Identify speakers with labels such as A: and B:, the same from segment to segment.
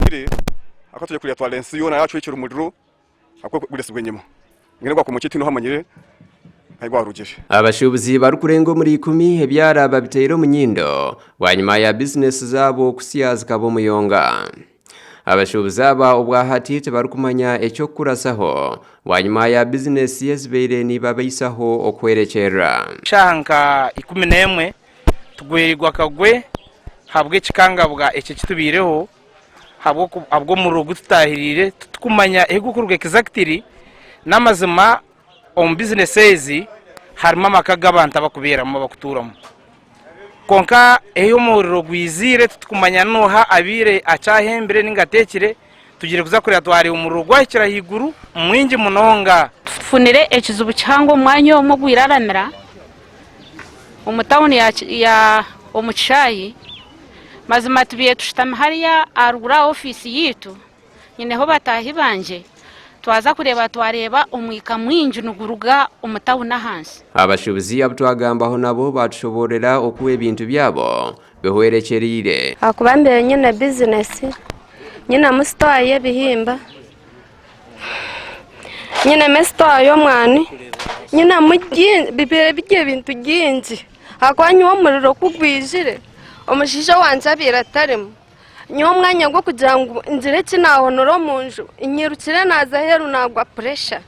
A: Omuzaire akatwire yatwara ensi yoona yacwekya omuriro ahakweguritsibwa enyima mbwenu ogwa kumukye tihaine ohamanyire ahi gwarugire. Abashuubuzi
B: barikurenga omuri ikumi ebyara babitaire omu nyindo bwanyima ya bizinesi zaabo kutsya zikaba omuyonga. Abashuubuzi aba obwahati tibarikumanya eky'okukuratsaho bwanyima ya bizinesi ezibaire nibabaisaho okuhwerekyerera. Shaaha nka
C: ikumi n'emwe Tugwereirwe akagwe ahabw'ekikangabwa eki ekitubaireho, ahabw'omuriro ogu tutaahiriire titukumanya ahu gurikuruga exactly. N'amazima omu business ezi harimu amaka g'abantu abarikubeeramu, abarikutuuramu. Kwonka ahu omuriro gwiziire titukumanya n'oha abaire akyahembire nainga ateekire. Tugire kuza kureba twareeba omuriro gwahikire ahaiguru mwingi munonga. Tufunire ekizibu
D: kihango omwanya omwe ogu iraramira omu tawuni ya omu kishaayi. Mazima tubaire tushutami hariya aharuguru aha ofiisi yaitu nyineho bataahi bangye twaza kureeba twareeba omwika mwingi niguruga omu tawuni ahansi. Abashuubuzi abu
B: twagambaho nabo baatushoboororera oku ebintu byabo bihwerekyereire. Ahakuba mbaire nyine
E: bizinesi, nyinemu sitoowa y'ebihimba, nyinemu esitoowa y'omwani, nyinemu bibaire biri ebintu bingi ahakuba nyowe omuriro ku gwijire, omushaija wangye abaire atarimu. Nyowe omwanya gw'okugira ngu ngire eki naahonora omu nju, nyirukire naaza aheeru naagwa puresha.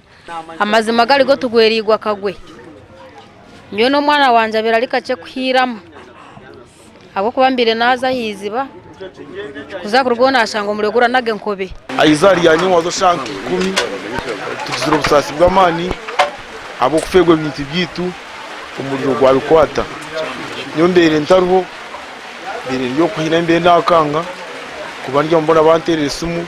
E: Amazima
D: gari go tugwereirwe akagwe. Nyowe n'omwana wangye abaire ari kakye kuhiiramu ahabw'okuba mbaire naaza aha iziba kuza kuruga obu naashanga omuriro guranaga enkobe. Aha izooba rya nyowe waaza
F: eshaaha nka ikumi. Tugizire obusaasi bw'amaani ahabw'okufeerwa ebintu byaitu omuriro gwabikwata. Nyowe mbaire ntariho. Ebireere by'okuha eyi n'embeera endakanga kuba ndya mbona banteerera esimu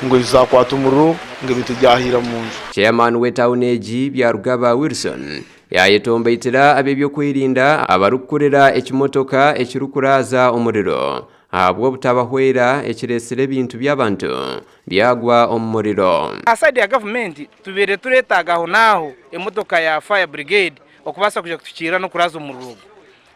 F: ngu enju zaakwata omuriro ngu ebintu byahiira mu nju. Chairman w'etauni
B: egi Byarugaba Wilson yayetombaitira ab'ebyokwerinda abarikukurira ekimotoka ekirikuraaza omuriro ahabw'obutabahwera ekiretsire ebintu by'abantu byagwa omu muriro. Aha side ya gavumenti
C: tubaire turetaaga aho n'aho emotoka ya fire brigade okubaasa kuza kutukiirira n'okuraaza omuriro ogwo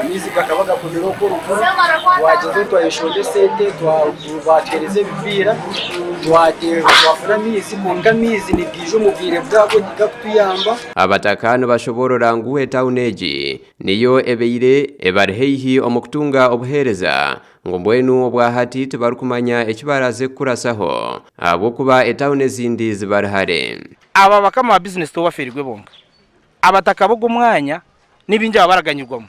G: Amaizi gakaba gakomire okwo oruguru, twagyezaho twayeshonda esente, batwereeza ebipiira, twateerwa twafuna amaizi kwonka amaizi nigaija omu bwire bwabwo tigakutuyamba. Abataka
B: nibashoboorora ngu etauni egi niyo ebaire ebari haihi omu kutunga obuheereza ngu mbwenu obwahati tibarikumanya eki baraaze kukurasaho ahabw'okuba etauni ezindi zibari hare. Aba bakama ba
C: bizinesi tibabafeerirwe bonka abataka b'ogwo mwanya ni baingi abaraganyirwamu,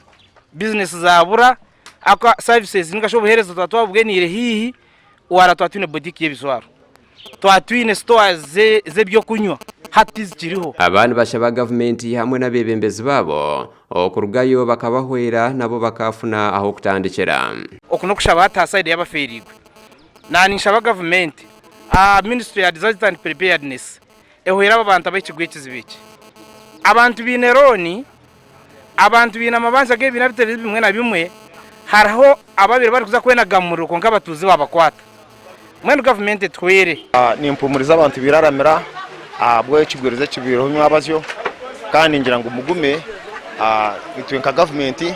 C: bizinesi zaabura, ahabw'okuba saavisi nainga shi obuheereza twaba twabubwiniire haihi, wara twaba twine botiiki y'ebijwaro, twaba twine sitoowa z'eby'okunywa, hati tizikiriho. Aba nibashaba
B: gavumenti hamwe n'abeebembezi baabo okurugayo bakabahwera nabo bakaafuna ah'okutandikira. Oku n'okushaba hati
C: aha saidi y'abafeereirwe. Naaba ninshaba gavumenti aha minisitule ya Disasters and Preparedness, ehwera abo bantu ab'ekigo ekizibu eki. Abantu baine looni, abantu baine amabanza ag'ebibiina bitari bimwe na bimwe, hariho ababaire barikuza kwenaga mu muriro kwonka abatuuzi baabakwata. Mbwenu gavumenti etuhwere. Nimpuumuriza
F: abantu bairaramira ahabw'ekigwirizi ekibaireho nywabazyo kandi ningira ngu mugume. Itwe nka gavumenti,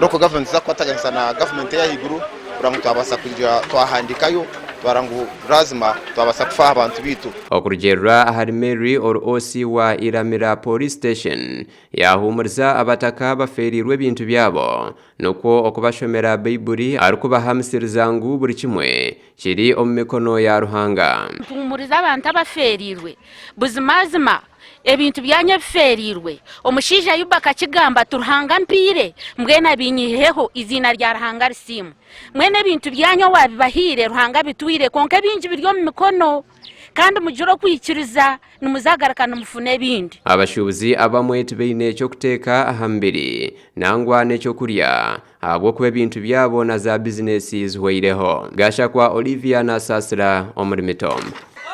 F: local government, tuza kukwataganisa na gavumenti ey'ahaiguru. kurora ngu twabaasa kugira twahandiikayo twara ngu laazima twabaasa kufa aha bantu baitu. Okurugiirira ahari
B: Mary, ROC wa Iramira Police Station yaahuumuriza abataka abafeereirwe ebintu byabo nikwo okubashomera Baibuli arikubahamusiriza ngu buri kimwe kiri omu mikono ya Ruhanga. Nituhuumuriza abantu
D: abafeereirwe buzimazima Ebintu byanyu ebifeereirwe. Omushaija Ayubu akakigamba ati, Ruhanga ampaire, mbwenu abinyihiheho, eiziina rya Ruhanga risiimwe. Mbwenu ebintu byanyu owaabibahaire, Ruhanga abitwire, kwonka ebingi biri omu mikono, kandi mugire okwikiriza, nimuzagaruka nimufuna ebindi. Abashuubuzi abamwe
B: tibaine eky'okuteeka aha mibiri nangwa n'eky'okurya ahabw'okuba ebintu byabo na zaabizineesi zihwaireho. Gashakwa Olivia naasaasira omuri Mitombo.